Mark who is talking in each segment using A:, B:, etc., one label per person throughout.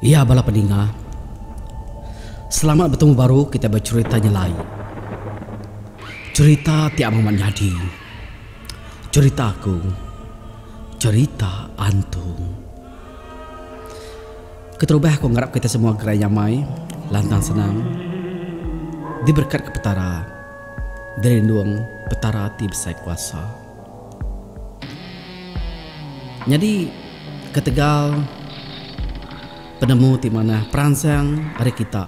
A: Iya bala peninga. Selamat betemu baru kitai becherita nyelai. Cherita ti amat nyadi. Cherita aku. Cherita antung. Keterubah aku ngarap kitai semua gerai nyamai, lantang senang, diberekatka Petara, dirindung Petara ti besai kuasa. Nyadi ketegal penemu ti manah peransang ari kita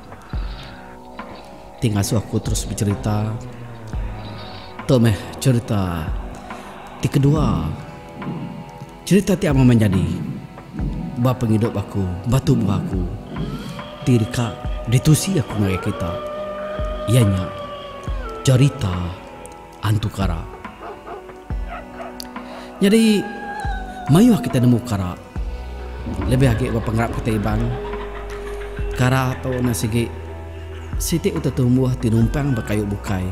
A: ti ngasuh aku terus becherita. Tu meh cherita ti kedua. Cherita ti amat menyadi ba pengidup aku, ba tubuh aku ti deka ditusi aku ngagai kita iya nya cherita. Antu kara. Nyadi, mayuh kitai nemu kara. Lebih agi ba pengarap kitai Iban, kara tu enda sigi siti utai tumbuh ti numpang ba kayu bukai.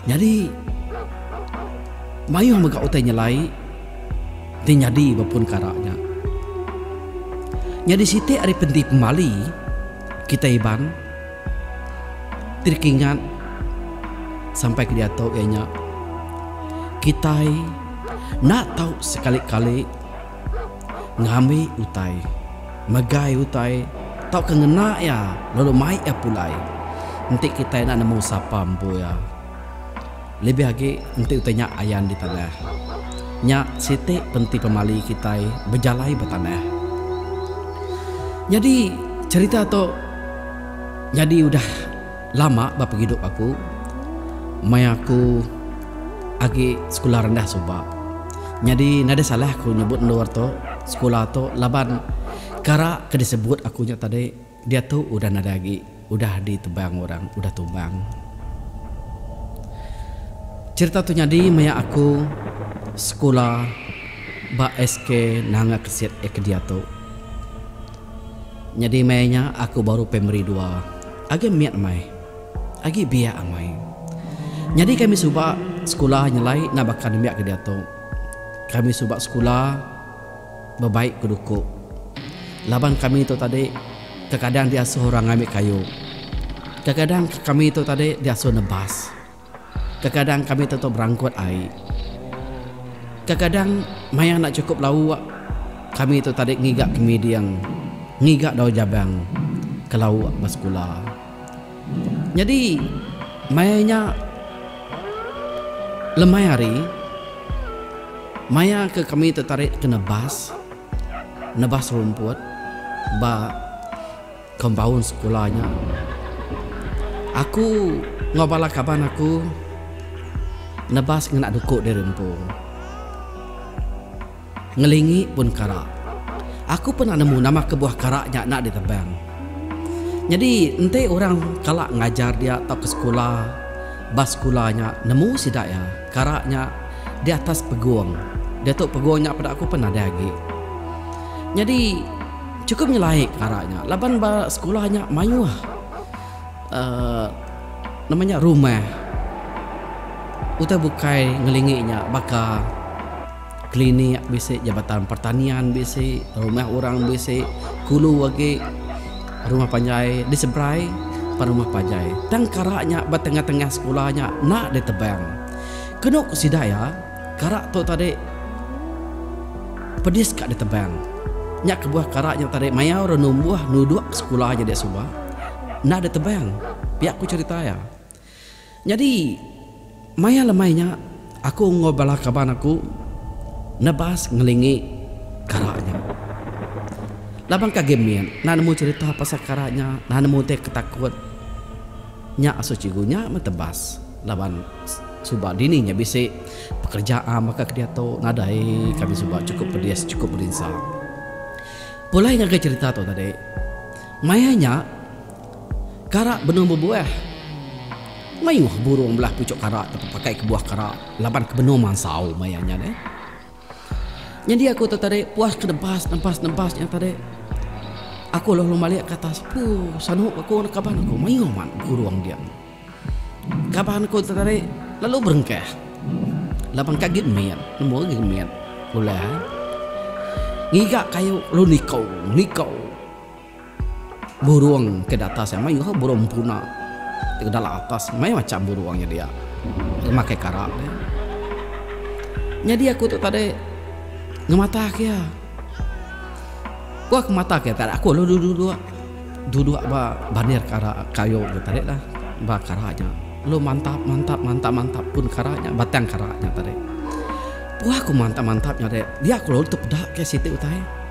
A: Nyadi, mayuh mega utai nyelai ti nyadi ba pun kara nya. Nyadi siti ari penti pemali kitai Iban. Ti dikingat sampai ke diatu iya nya kitai enda tau sekali-kali ngambi utai, megai utai tauka ngena iya lalu mai iya pulai enti kitai enda nemu sapa empu iya. Lebih agi enti utai nya ayan ditanah. Nya siti penti pemali kitai bejalai ba tanah. Nyadi cherita tu nyadi udah lama ba pengidup aku maya aku agi sekula rendah suba. Nyadi nadai salah aku nyebut endur tu sekula tu laban kara ke disebut aku nya tadi. Diatu udah nadai agi udah ditebang orang udah tumbang. Cherita tu nyadi maya aku sekula ba SK Nanga Kesit iya ke diatu. Nyadi maya nya aku baru primary dua agi mit meh agi biak amai. Nyadi kami suba sekula nyelai enda baka nembiak ke diatu. Kami suba sekula. bebaik ku duku. Laban kami tu tadi kekadang diasuh orang ngambi kayu. Kekadang kami tu tadi diasuh nebas. Kekadang kami tentu berangkut ai. Kekadang maya enda chukup lauk kami tu tadi ngiga kemiding, ngiga daun jabang ke lauk ba sekula. Nyadi, maya nya lemai hari, maya ke kami tetarit ke nebas, nebas rumput ba kompaun sekula nya, aku enggau bala kaban aku nebas ngena duku diri empu. Ngelingi pun kara. Aku pernah nemu nama kebuah kara nya enda ditebang. Nyadi enti orang kala ngajar dia tauka sekula ba sekula nya nemu sida iya kara nya di atas pegung diatu pegung nya peda aku pun nadai agi. Nyadi chukup nyelai kara nya laban ba sekula nya mayuh uhh nama nya rumah utai bukai ngelingi nya baka. Klinik bisi, Jabatan Pertanian bisi, rumah orang bisi, kulu agi rumah panjai diseberai pan rumah panjai. Tang kara nya ba tengah-tengah sekula nya enda ditebang. Kenu ku sida iya, kara tu tadi pedis ka ditebang. Nya kebuah kara nya tadi mayau ra numbuh nuduk sekula nyadi suba enda ditebang, pia ku cherita iya. Nyadi, maya lemai nya, aku enggau bala kaban aku nebas ngelingi kara nya. Laban ke agi mit, enda nemu cherita pasal kara nya, enda nemu utai ke takut. Nya asuh cikgu nya meh tebas laban suba dini nya bisi pekereja am baka ke diatu, nadai kami suba chukup pedis, chukup berinsa. Pulai ngagai cherita tu tadi, maya nya. Kara benung bebuah. Mayuh burung belah puchuk kara tu bepakai ke buah kara laban ke benung mansau maya nya deh. Nyadi aku tu tadi puas ke nempas nempas nempas nya tadi. Aku lalu malik ke atas pu sanuk aku enggau kaban aku mayuh mat burung dia. Kaban aku tu tadi lalu berengkah laban ka gin mit nemu gin mit ulah ngiga kayu lalu nikau nikau. Burung ke datas iya mayuh ka burung empuna ti udah la atas meh macam burung nya dia makai kara dia. Nyadi aku tu tadi ngemata ke iya. Ku aku mata ke iya tadi aku lalu duduk duduk ba bandir kara kayu nya tadi lah ba kara nya lalu mantap mantap mantap mantap pun kara nya batang kara nya tadi. Pun aku mantap mantap nya tadi dia aku lalu tepeda ke siti utai.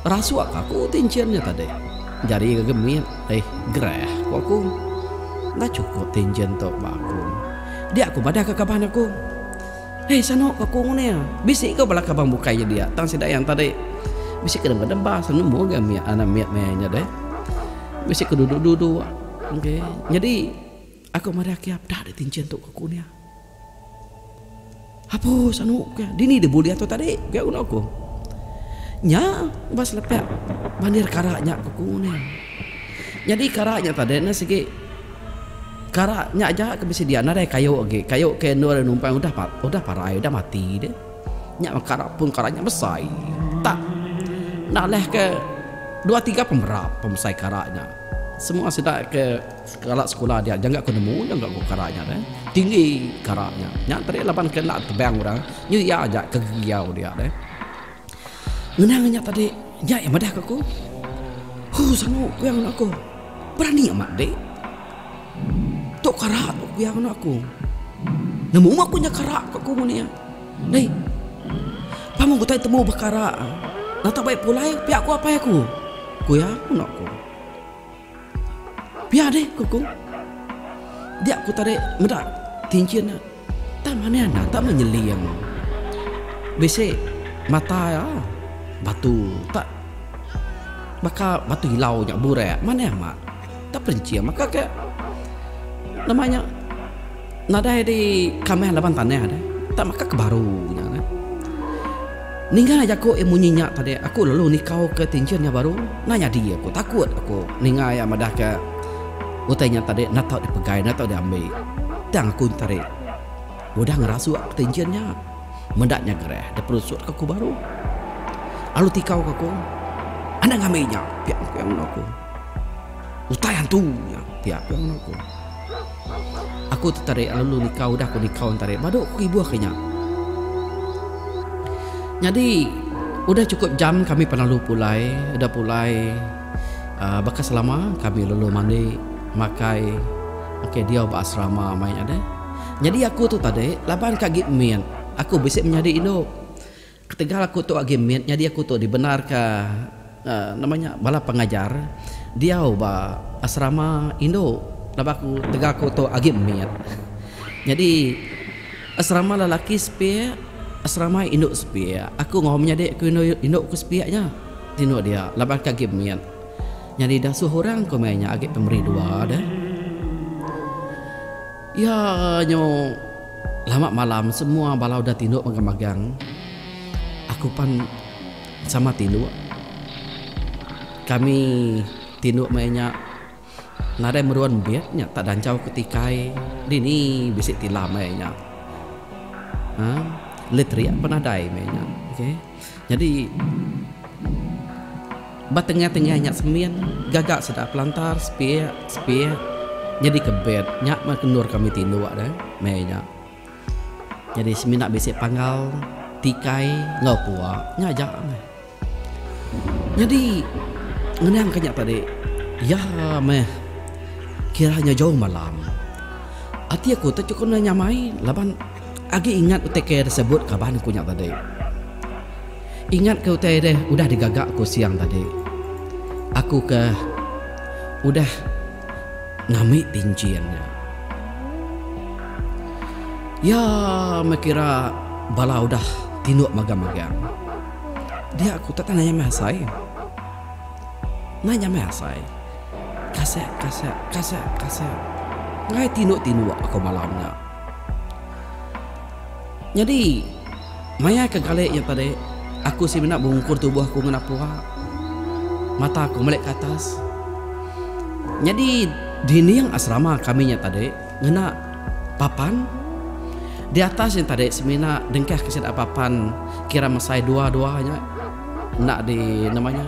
A: Rasuk ka aku ti enchin nya tadi. Jari ngagai mit, eh gerah ku aku. Enda chukup ti enchin tu ba aku. Dia ku madah ka kaban aku. Hei sanu ku aku nguning. Bisi ko bala kaban bukai nya dia tang sida yang tadi. Bisi ke nemu demba sanu nemu ga mit anak mit meh nya deh. Bisi ke duduk-duduk engke. Nyadi. Aku madah kia peda dek tinchin tu aku nia. Hapus anu kia dini deh buli atu tadi kia guna aku. Nya ba selepek mandir kara nya ku aku nia. Nyadi kara nya tadi ne sigi kara nya aja ke bisi dia nadai kayu agi, kayu ke endur anu empai udah pa udah parai udah mati deh. Nya kara pun kara nya besai tak nalahke dua tiga pemerap pemesai kara nya. Semua sida ke. Kala sekula dia jangka ku nemu jangka ku kara nya deh. Tinggi kara nya. Nya tadi laban ke enda tebang orang. Nya iya aja ke giau dia deh. Ngenang nya tadi nyai madah ke aku. Huh sangu ku iya ngena aku. Berani amat dik. Tu kara tu ku iya ngena aku. Nemu aku nya kara ku aku ngun iya. Deh. Pang utai temu ba kara. Nata baik pulai pia ku apai aku. Ku iya ngena aku. Pia deh ku ku. Dia ku tadi meda kinchin nya. Tang mani anak tak meh nyeli iya meh. Bisi mata iya batu tak baka batu ilau nya burak mani amat tak perinching maka ke nama nya. Nadai di kamih laban tanah deh. Tak maka ke baru nya deh. Ninga jaku iya munyi nya tadi aku lalu nikau ke tinjin iya baru. Enda nyadi aku takut aku ninga iya madah ke utai nya tadi enda tau di pegai enda tau di ambi. Tang aku nteri udah ngerasuk ke tinjin nya meda nya gerah deh perusut ke aku baru. Lalu tikau ke aku enda ngambi nya pia ku iya ngeno aku. Utai antu nya pia ku iya ngeno aku. Aku tetarik lalu nikau udah ku nikau entarik badu ku ibuh ke nya. Nyadi udah chukup jam kami penalu pulai, udah pulai uhh baka selama kami lalu mandi makai makai diau ba asrama mai nya deh. Nyadi aku tu tadi laban ka agi mit aku bisi menyadi indu. Ketegal aku tu agi mit nyadi aku tu dibenarka nama nya bala pengajar diau ba asrama indu laban aku tegal aku tu agi mit nyadi asrama lelaki sepiak asrama indu sepiak aku enggau menyadi aku indu ku sepiak nya tino dia laban ke agi mit nyadi dah suh orang ku meh nya agi pemeri dua deh. Iya nyu lama malam semua bala udah tinduk magang magang aku pan sama tinduk kami tinduk maya nya nadai meruan beg nya tak danchau ku tikai dini bisi tilam maya nya ha letrik pun nadai maya nya okay. Nyadi ba tengah-tengah nya semin gaga sida pelantar sepik sepik nyadi ke bed nya meh kendur kami tinduk deh meh nya nyadi semina bisi panggal tikai enggau kua nya aja meh nyadi ngenang ka nya tadi iya meh kira nya jauh malam ati aku tu chukun nya nyamai laban. Agi ingat utai kaya disebut kaban ku nya tadi. Ingat ke utai deh udah digaga aku siang tadi. Aku ke udah ngami pinjin nya. Iya meh kira bala udah tinduk magang-magang. Dia ku tetap nanya meh asai. Nanya meh asai. Kasek kasek kasek kasek. Ngai tinduk-tinduk aku malam nya. Nyadi, maya ke galik nya tadi, aku semina bungkur tubuh aku ngena pua. Mata aku melika atas. Nyadi, dinding asrama kami nya tadi ngena papan. Di atas nya tadi semina dengkah ke sida papan kira mesai dua-dua nya enda di nama nya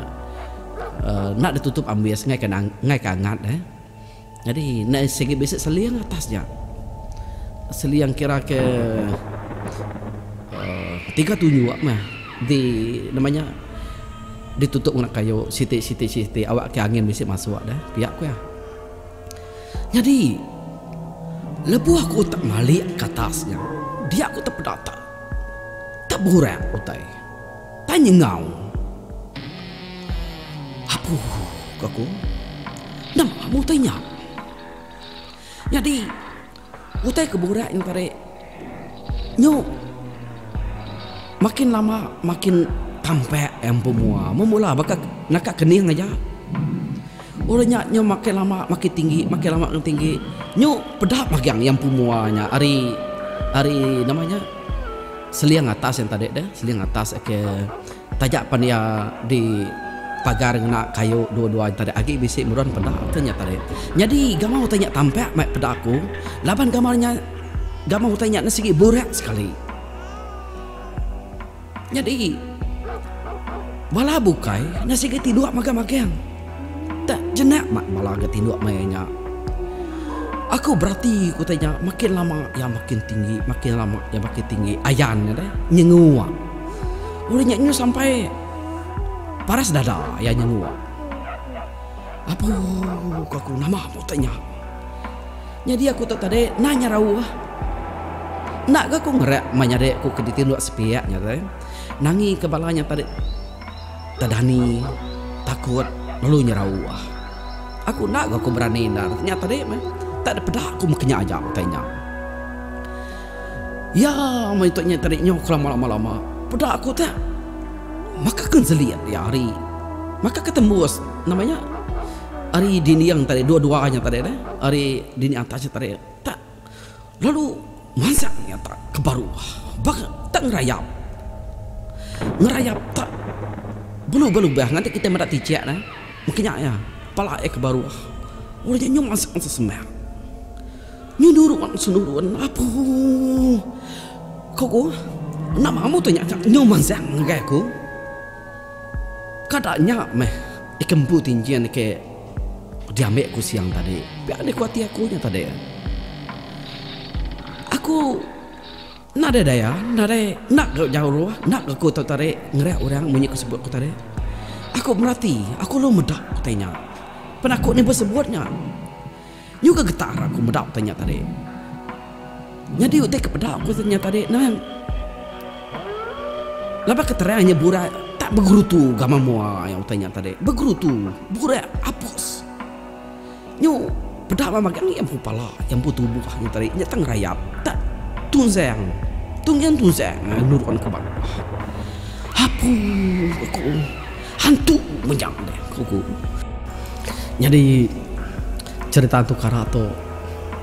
A: uhh enda ditutup ambis ngaika angat uhh. Nyadi enda sigi bisi seling atas nya. Seling kira ke uhh tiga tunjuk meh di nama nya ditutup ngena kayu siti siti siti awak ke angin bisi masuk deh pia ku iya. Nyadi lebuh aku utak malik ke atas nya dia ku tepedata teburak utai. Tanya enggau aku, ku aku. Nama nama utai nya? Nyadi utai ke burak nya tadi nyu makin lama makin tampak empu mua. Mung mula baka naka kening aja. Udah nya nyu makin lama makin tinggi, makin lama makin tinggi. Nyu peda magang empu mua nya ari ari nama nya. Seling atas yang tadi deh, seling atas ke taja pan iya di pagar ngena kayu dua-dua yang tadi agi bisi meron peda ke nya tadi. Nyadi gamau utai nya tampak mai peda aku laban gamau nya gamau utai nya sigi burak sekali. Nyadi bala bukai nya sigi ti dua magang-magang. Tak jenak mak mala ga tinduk maya nya. Aku berati utai nya makin lama iya makin tinggi makin lama iya makin tinggi ayan nya deh nyengua. Udah nya nyu sampai paras dada iya nyengua. Apu ko aku nama pun utai nya. Nyadi aku tu tadi enda nyerau ah. Enda ga ku ngerak meh nyadi ku ke ditinduk sepiak nya deh. Nangi ke bala nya tadi. Tadani takut lalu nyerau ah. Aku enda ga ku berani endar nya tadi meh. Tak ada peda ku meh kenya aja utai nya. Iya meh itu nya tadi nyau kelama lama lama. Peda aku tu maka ke selit iya ari maka ke tembus nama nya ari dinding tadi dua dua nya tadi ari dinding atas nya tadi tak. lalu mansak nya tak ke baruh ba tak ngerayap ngerayap tak belu ga lubah ngatik kitai meda tichek dah maka nya iya pala iya ke baruh ulu nya nyum asam asam semak nyu nurun su nurun apuuh ko ku enda mamu tu nya ka nyu mansak ngagai aku kada nya meh ikan empu ti nyin ke. Diambi aku siang tadi. Pia deh ku ati aku nya tadi. Aku nadai daya, nadai enda ga jauh, enda ga ku tau tarik ngereak orang munyi ku sebut ku tadi. Aku merati, aku lalu meda utai nya. Pan aku ni besebut nya. Nyu ga getar aku meda utai nya tadi. Nyadi utai ke peda ku nya tadi nang laban ke terang nya burai tak begerutu gamak mua utai nya tadi. Begerutu, burai apus. Nyu peda mah magang iya empu pala, iya empu tubuh nya tadi. Nya tang rayat tak tunzang, tunzang tunzang nurun ke bawah. Apuu aku. Hantu mega deh ku ku. Nyadi cerita hantu kara tu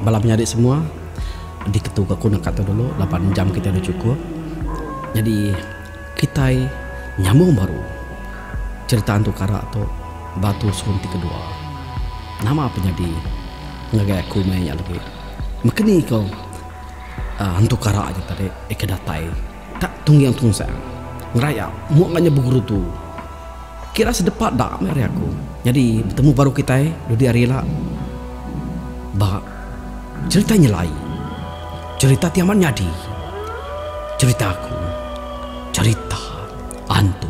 A: bala menyadi semua diketu ga ku naka tu dulu laban jam kitai dah cukup. Nyadi kitai nyambung baru cerita hantu kara tu ba terusun ti kedua. Nama pun nyadi ngagai aku meh nya lagi. Meken iko hantu kara nya tadi iko datai. Kak Tungging Tunsang, Ngerayap mua enggau nya beguru tu kira sedepa da meh ari aku. Nyadi betemu baru kitai dudi hari ila ba cherita nyelai, cherita ti amat nyadi, cherita aku, cherita antu.